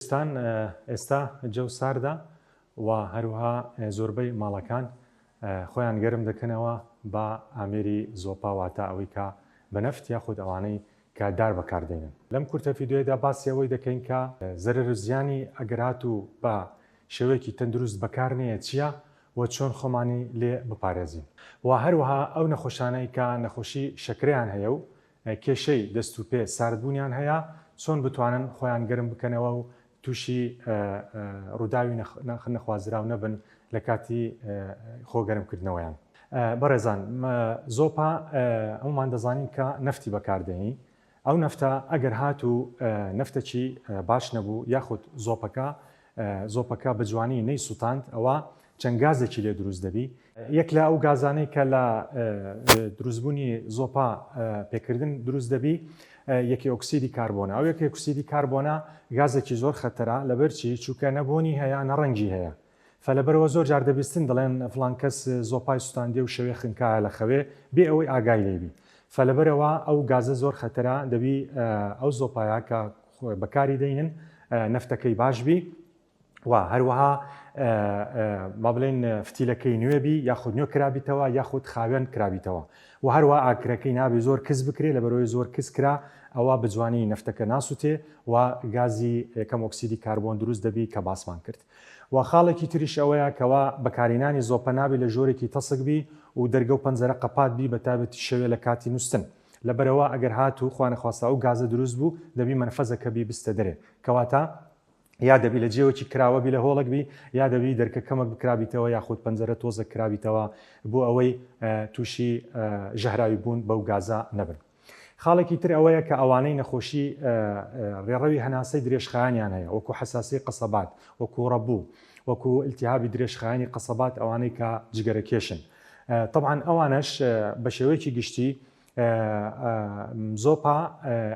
کوردستان ئێستا جەو ساردە و هەروەها زۆربەی ماڵەکان خۆیان گەرم دەکەنەوە بە ئامێری زۆپا واتە ئەوەی کە بە نەفت یاخود ئەوانەی کە دار بەکار دێنن. لەم کورتە فیدیۆیەدا باسی ئەوەی دەکەین کە زەرەر و زیانی ئەگەر هاتوو بە شێوەیەکی تەندروست بەکار نەیە چییە و چۆن خۆمانی لێ بپارێزین و هەروەها ئەو نەخۆشانەی کە نەخۆشی شەکرەیان هەیە و کێشەی دەست و پێ ساردبوونیان هەیە، چۆن بتوانن خۆیان گەرم بکەنەوە و تووشی ڕووداوی نەخوازراو نەبن لە کاتی خۆ گەرم کردنەوەیان. بەڕێزان زۆپا هەموومان دەزانین کە نەفتی بەکاردێنین، ئەو نەفتە ئەگەر هاتوو نەفتەکی باش نەبوو یاخود زۆپەکە زۆپەکە بە جوانی نەی سوتاند ئەوا چەند گازێکی لێ دروست دەبی. یەک لە ئەو گازانەی کە لە دروستبوونی زۆپا پێکردن دروست دەبی یەکی ئۆکسیدی کاربۆنە ئەو یەکی ئۆکسیدی کاربۆنە گازێکی زۆر خەتەرە لەبەرچی چووکە نەبوونی هەیە نەڕەنگی هەیە فەلەبەرەوە زۆر جار دەبیستن دەڵێن فلان کەس زۆپای سوستاندێ و شەوێ خنکایە لە خەوێ بێ ئەوەی ئاگای لێبی فەلەبەرەوە ئەو گازە زۆر خەتەرە دەبی ئەو زۆپایە کە خۆێ بەکاری دەینن نەفتەکەی باش بی و هەروەها با بڵێن فتیلەکەی نوێ بی یاخود نوێ کرابیتەوە یاخود خاوێن کرابیتەوە و هەروە ئاکرەکەی نابێ زۆر کەس بکرێت لە بەرەوەی زۆر کەس کرا ئەوە بجوانی نەفتەکە ناسووتێ و گازی یەکەم ئۆکسیدی کاربۆن دروست دەبی کە باسمان کرد و خاڵێکی تریش ئەوەیە کەوا بەکارینانی زۆپە نابی لە ژۆرێکی تەسک بی و دەرگە و پەنجەرە قەپات بی بە تابەتی شەوێ لە کاتی نووسن لەبەرئەوە ئەگەر هاتوو خوانەخواستە ئەو گازە دروست بوو دەبی مەنفەزەکە بیبستە دەرێ کەواتە یا دەبی لە جێوەکی کراوە بی لە هۆڵک بی یا دەبی دەرکە کەمەک بکرابیتەوە یاخود پەنجەرە تۆزە کرابیتەوە بۆ ئەوەی تووشی ژەهراوی بوون بەو گازە نەبن. خاڵێکی تر ئەوەیە کە ئەوانەی نەخۆشی ڕێڕەوی هەناسەی درێژخایانیان هەیە وەکو حساسی قەسەبات وەکو ڕەبوو وەکو التهابی درێژخایانی قەسەبات ئەوانەی کە جگەرەکێشن تەبعەن ئەوانەش بە شێوەیەکی گشتی زۆپا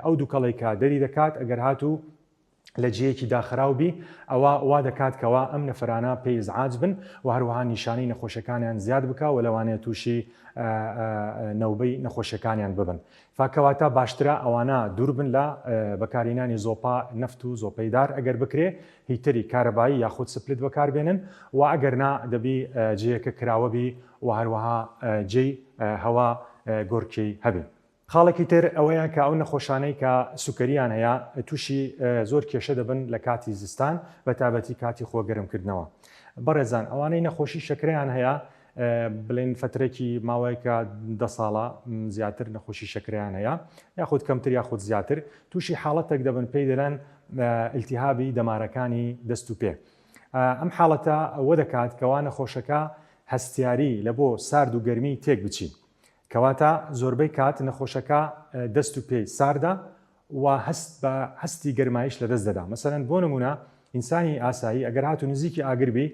ئەو دووکەڵی کە دەری دەکات ئەگەر هاتوو لە جیەکی داخراو بی ئەوە وا دەکات کەوا ئەم نەفرانە پێی ئزعاج بن و هەروەها نیشانەی نەخۆشەکانیان زیاد بکە و لەوانەیە تووشی نەوبەی نەخۆشەکانیان ببن فە کەواتە باشترە ئەوانە دوور بن لە بەکارهینانی زۆپا نەفت و زۆپەی دار ئەگەر بکرێ هی تری کارەبایی یاخود سپلت بەکار بێنن و ئەگەر نا دەبی جێیەکە کراوە بی و هەروەها جێی هەوا گۆرکی هەبی. خاڵێکی تر ئەوەیە کە ئەو نەخۆشانەی کە سوکەریان هەیە تووشی زۆر کێشە دەبن لە کاتی زستان بە تابەتی کاتی خۆ گەرم کردنەوە بەڕێزان ئەوانەی نەخۆشی شەکرەیان هەیە بڵێن فەترەێکی ماوەیەکە دە ساڵە زیاتر نەخۆشی شەکرەیان هەیە یاخود کەمتر یاخود زیاتر تووشی حاڵەتێک دەبن پێی دەلەن ئلتیهابی دەمارەکانی دەست و پێ ئەم حاڵەتە ئەوە دەکات کەوا نەخۆشەکە هەستیاری لە بۆ سارد و گەرمی تێک بچین کەواتە زۆربەی کات نەخۆشەکە دەست و پێی ساردە و هەست بە هەستی گەرمایش لە دەست دەدا مەسەرەن بۆ نمونە ئینسانی ئاسایی ئەگەر هاتو نزیکی ئاگربی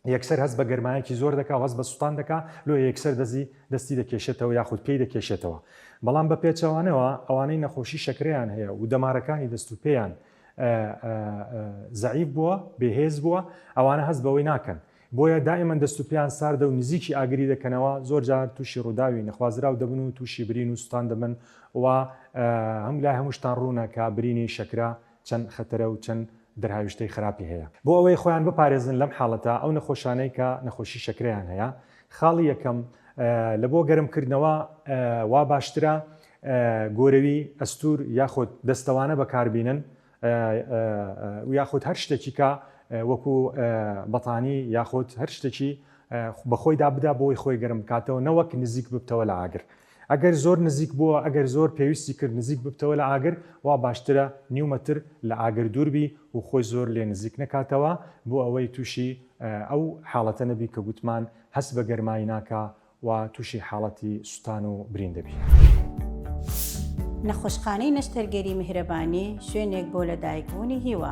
یەکسەر هەست بە گەرمایەکی زۆر دەکا و هەست بە سوتان دەکا، لۆیە یەکسەر دەزی دەستی دەکێشێتەوە یاخود پێی دەکێشێتەوە. بەڵام بە پێچەوانەوە ئەوانەی نەخۆشی شەکرەیان هەیە و دەمارەکانی دەست و پێیان زەعیف بووە، بێ هێز بووە، ئەوانە هەست بەوەی ناکەن. بۆیە دائیمەن دەست و پێیان ساردە و نزیکی ئاگری دەکەنەوە، زۆر جار تووشی ڕووداوی نەخوازراو دەبن و تووشی برین و سوتان دەبن و هەم لای هەمووشتان ڕوونە کە برینی شەکرە چەند خەتەرە و چەند دەرهاویشتەی خراپی هەیە. بۆ ئەوەی خۆیان بپارێزن لەم حاڵەتە، ئەو نەخۆشانەی کە نەخۆشی شەکرەیان هەیە، خاڵی یەکەم، لە بۆ گەرمکردنەوە وا باشترە گۆرەوی، ئەستوور یاخود دەستەوانە بەکار بینن یاخود هەر شتێکی کە وەکوو بەتانی یاخود هەر شتێکی بە خۆیدا بدا بۆی خۆی گەرم بکاتەوە نەوەک نزیک ببتەوە لە ئاگر. ئەگەر زۆر نزیک بووە، ئەگەر زۆر پێویستی کرد نزیک ببتەوە لە ئاگر، وا باشترە نیو مەتر لە ئاگر دوور بی و خۆی زۆر لێ نزیک نەکاتەوە، بۆ ئەوەی تووشی ئەو حاڵەتە نەبی کە گوتمان هەست بە گەرمایی ناکا و تووشی حاڵەتی سوتان و برین دەبی. نەخۆشخانەی نەشتەرگەری میهرەبانی شوێنێک بۆ لەدایکبوونی هیوا.